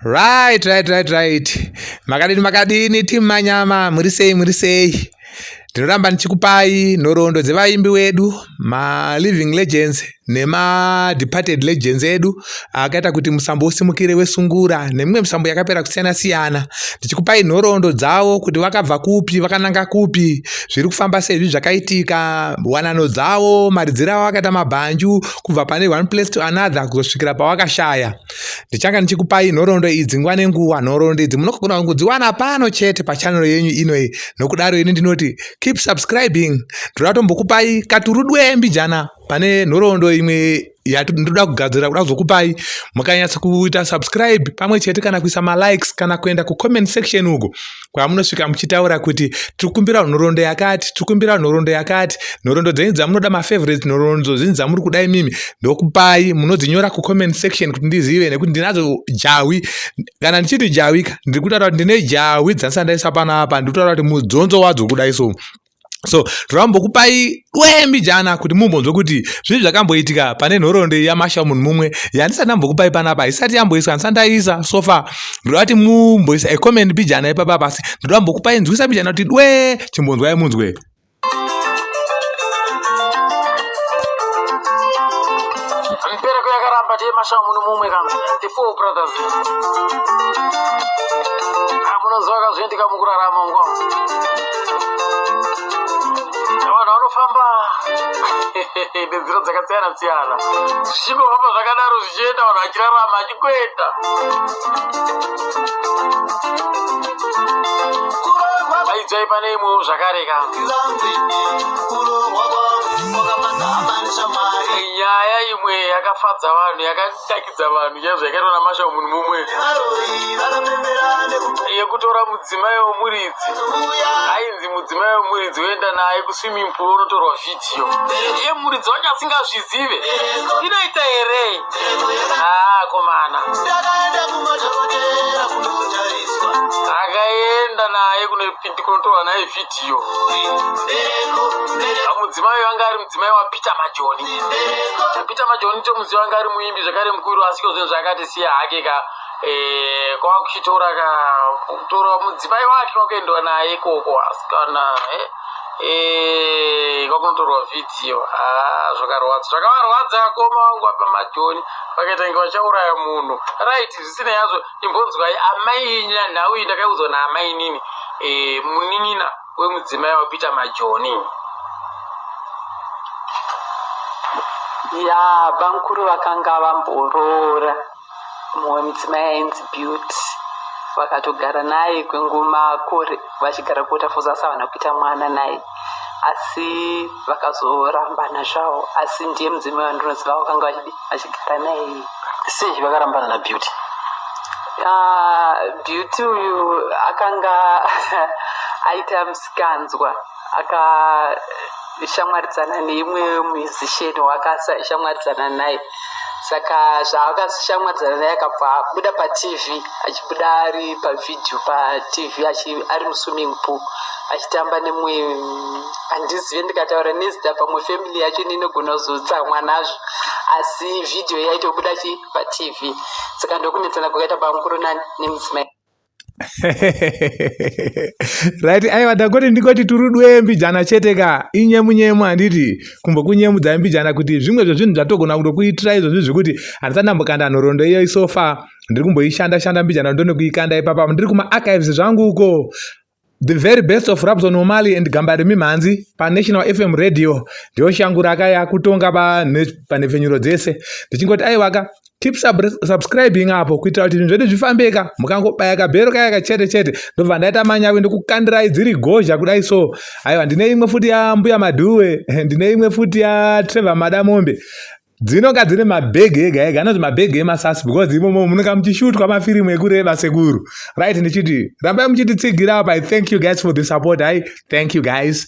Right, right, right, right. Makadini makadini team manyama muri sei muri sei. Ndinoramba ndichikupai nhoroondo dzevaimbi wedu ma living legends nema departed legends edu akaita kuti musambo usimukire wesungura nemimwe misambo yakapera kusiyana siyana ndichikupai nhoroondo dzavo kuti vakabva kupi vakananga kupi zviri kufamba sezvi zvakaitika wanano dzavo maridziro avo akaita mabhanju kubva pane one place to another kuzosvikira pawakashaya ndichanga ndichikupai nhoroondo idzi nguva nenguva nhoroondo idzi munogona kudziwana pano chete pachanero yenyu inoyi nokudaro ini ndinoti keep subscribing ndoda tombokupai katurudwe mbijana pane nhoroondo imwe yandinoda kugadzira kuda kuzokupai mukanyatsa kuita subscribe pamwe chete kana kuisa malikes kana kuenda kucomment section uko kwamunosvika muchitaura kuti tiri kumbira nhorondo yakati tiri kumbira nhorondo yakati nhorondo dzenyu dzamunoda mafavorites nhorondo zvinyi dzamuri kuda imimi ndokupai munodzinyora kucomment section kuti ndizive nekuti ndinadzo jahwi kana ndichiti jahwika ndiri kutaura kuti ndine jahwi dzandisandaisa panapa ndiri kutaura kuti mudzonzo wadzo kudai so so torambokupai dwemi jana kuti mumbonzwe kuti zvii zvakamboitika pane nhoroondo yamasha munhu mumwe yandisati ndambokupai panapa isati yamboiswa ndisati ndaisa sofa ndoda kuti mumboisa ecoment bijana ipapa pasi ndoda mbokupai nzwisa bijana kuti dwe chimbonzwai munzwe mbereko yakaramba tiye masha munhu mumwe kana the four brothers amunonzwa ah, kazviendika mukurarama mukwa vanhu vanofamba nenzira dzakasiyana siyana zvichingofamba zvakadaro zvichienda vanhu vachirarama achikuenda aidzai pane imwewo zvakare ka nyaya imwe yakafadza vanhu yaka takidza vanhu chaizvo yakaitwa namasha munhu mumwe yekutora mudzimai wemuridzi ainzi mudzimai wemuridzi oenda naye kuswimming pool onotorwa vhidhiyo iye muridzi wacho asingazvizive inoita here haa komana akaenda naye kunotorwa naye vhidhiyo mudzimai vanga ari mudzimai wapeter majoni peter majoni tomuziva anga ari muimbi zvekare mukuru asi iko zvinhu zvaakatisiya hake ka eh, kwava kuchitora ka kutora mudzimai wake kwakuendwa naye ikoko asi kana eh, eh, kwakunotorwa vhidhiyo ah, zvakarwadza zvakavarwadza akoma vangu vapa majoni vakaita inge vachauraya munhu right zvisinei yazvo imbonzwai amainyi nanhau iyi ndakaiudzwa naamainini munin'ina uyu mudzimai wapeter majoni ya bamukuru vakanga vamboroora mumwe mudzimai ainzi beauty vakatogara naye kwengumakore vachigara kuota foza asi havana kuita mwana naye asi vakazorambana zvavo asi ndiye mudzimai wandinoziva vakanga vachidi achigara naye iye sei vakarambana nabeauty ah, beauty uyu akanga aita musikanzwa akashamwaridzana neimwe musician waakashamwaridzana naye saka zvaakashamwaridzana naye akabva abuda patv achibuda ari pavhidhio patv ari muswimming pool achitamba nemwe handizive ndikataura nezita pamwe family yacho ndinogona kuzotsamwa nazvo asi vhidhiyo yaitobuda chi patv saka ndokunetsana kwakaita bamukuru nani nemudzimai right aiwa ndakoti ndikoti turudwe mbijana chete ka inyemu nyemu handiti kumbokunyemudza mbijana kuti zvimwe zvezvinhu zvatogona kutokuitira izvozvi zvekuti handisati ndambokanda nhorondo iyo isofa ndiri kumboishanda shanda mbijana ndonekuikanda ipapa ndiri kumaarchives zvangu uko The very best of Rabson Omali and Gambari Mimhanzi pa National FM Radio ndiyo shangu rakaya kutonga panhepfenyuro dzese ndichingoti aivaka keep sub subscribing apo kuitira kuti zvinhu zvedu zvifambeka mukangobaya kabhero kaya kachete chete ndobva ndaita manyawi ndokukandirai dziri gozha kudai so aiwa ndine imwe futi yambuya madhuwe ndine imwe futi yatrevor madamombe dzinonga dzine mabhegi ega ega anonzi mabhegi emasasi because imomo munonga muchishutwa mafirimu ekureba sekuru right ndichiti rambai muchititsigira apa i thank you guys for the support i thank you guys